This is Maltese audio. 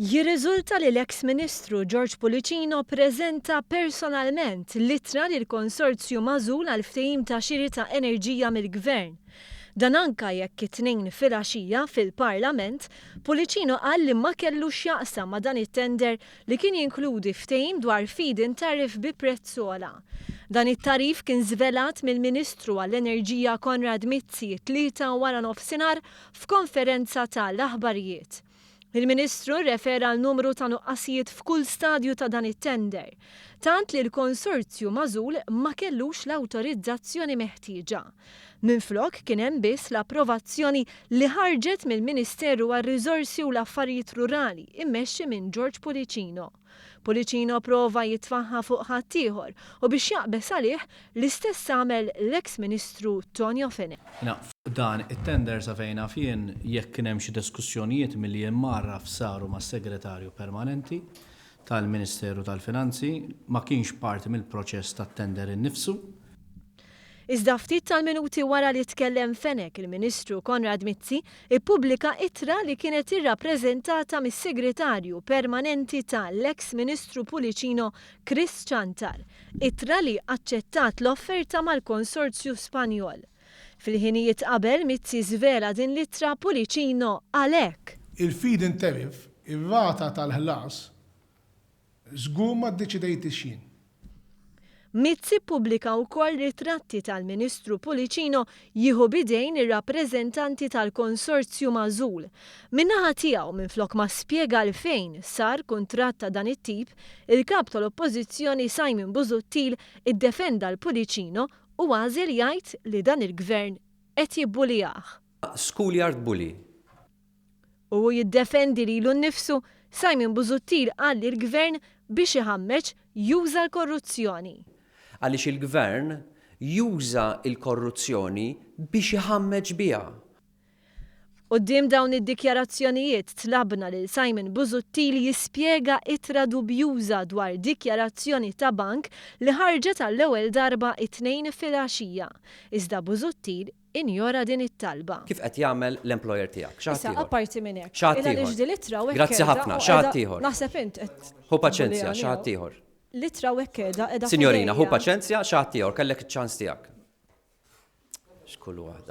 Jirriżulta li l-eks Ministru George Pullicino ppreżenta personalment l-ittra lill-konsorzju magħżul għall-ftehim ta' xiri ta' enerġija mill-Gvern. Dan anke jekk it-Tnejn filgħaxija, fil-Parlament, Pullicino qal li ma kellu x'jaqsam ma' dan it-tender li kien jinkludi ftehim dwar feed-in tariff bi prezz ogħla. Dan it-tariff kien żvelat mill-Ministru għall-Enerġija Konrad Mizzi t-Tlieta waranofsinhar f'konferenza ta' l-aħbarijiet. Il-Ministru rrefera għal numru ta' nuqqasijiet f'kull stadju ta' dan it-tender, tant li l-konsorzju magħżul ma kellux l-awtorizzazzjoni meħtieġa. Minflok kien hemm biss l-approvazzjoni li ħarġet mill-Ministeru għar-Riżorsi u l-Affarijiet Rurali mmexxi minn George Pullicino. Pullicino prova jitfaħħa fuq ħaddieħor u biex jaqbeż għalih, l-istess għamel l-eks Ministru Tonio Fenech. Jiena fuq dan it-tender sa fejn naf jien, jekk kien hemm xi diskussjonijiet milli jien mgħarraf saru mas-Segretarju Permanenti tal-Ministeru tal-Finanzi, ma kienx parti mill-proċess tat-tender innifsu. Iżda ftit tal-minuti wara li tkellem Fenech il-Ministru Konrad Mizzi ippubblika ittra li kienet irrappreżentata mis-Segretarju Permanenti ta' l-eks Ministru Pullicino Chris Ciantar, ittra li aċċettat l-offerta mal-konsorzju Spanjol. Fil-ħinijiet qabel Mizzi żvela din l-ittra Pullicino qal hekk. Il-feed-in tariff, ir-rata tal-ħlas, Żgur ma ddeċidejtix jien. Mizzi ppubblika wkoll ritratti tal-Ministru Pullicino jieħu b'idejn ir-rappreżentanti tal-konsorzju magħżul. Min-naħa tiegħu, minflok ma spjega għalfejn sar kuntratt ta' dan it-tip, il-Kap tal-Oppożizzjoni Simon Busuttil iddefenda 'l Pullicino u għażel jgħid li dan il-Gvern qed jibbulijah. Schoolyard Bully, U hu jiddefendi lilu nnifsu, Simon Busuttil qal lill-Gvern biex iħammeġ juża l-korruzzjoni. Għaliex il-Gvern juża l-korruzzjoni biex iħammeġ biha. Quddiem dawn id-dikjarazzjonijiet tlabna lil Simon Busuttil jispjega ittra dubjuża dwar dikjarazzjoni ta' bank li ħarġet għall-ewwel darba t-Tnejn filgħaxija. Iżda Busuttil injora din it-talba. Kif qed jagħmel l-employer tiegħek? Xi ħadd ieħor? Issa apparti minn hekk. Xi ħadd ieħor? Il għaliex din l-ittra u hekk qiegħda. Grazzi ħafna. Xi ħadd ieħor? Naħseb int qed. Ħu paċenzja, xi ħadd ieħor. L-ittra u hekk qiegħda qiegħda. Sinjorina, ħu paċenzja, xi ħadd ieħor, kellek iċ-ċans tiegħek. X'kull waħda.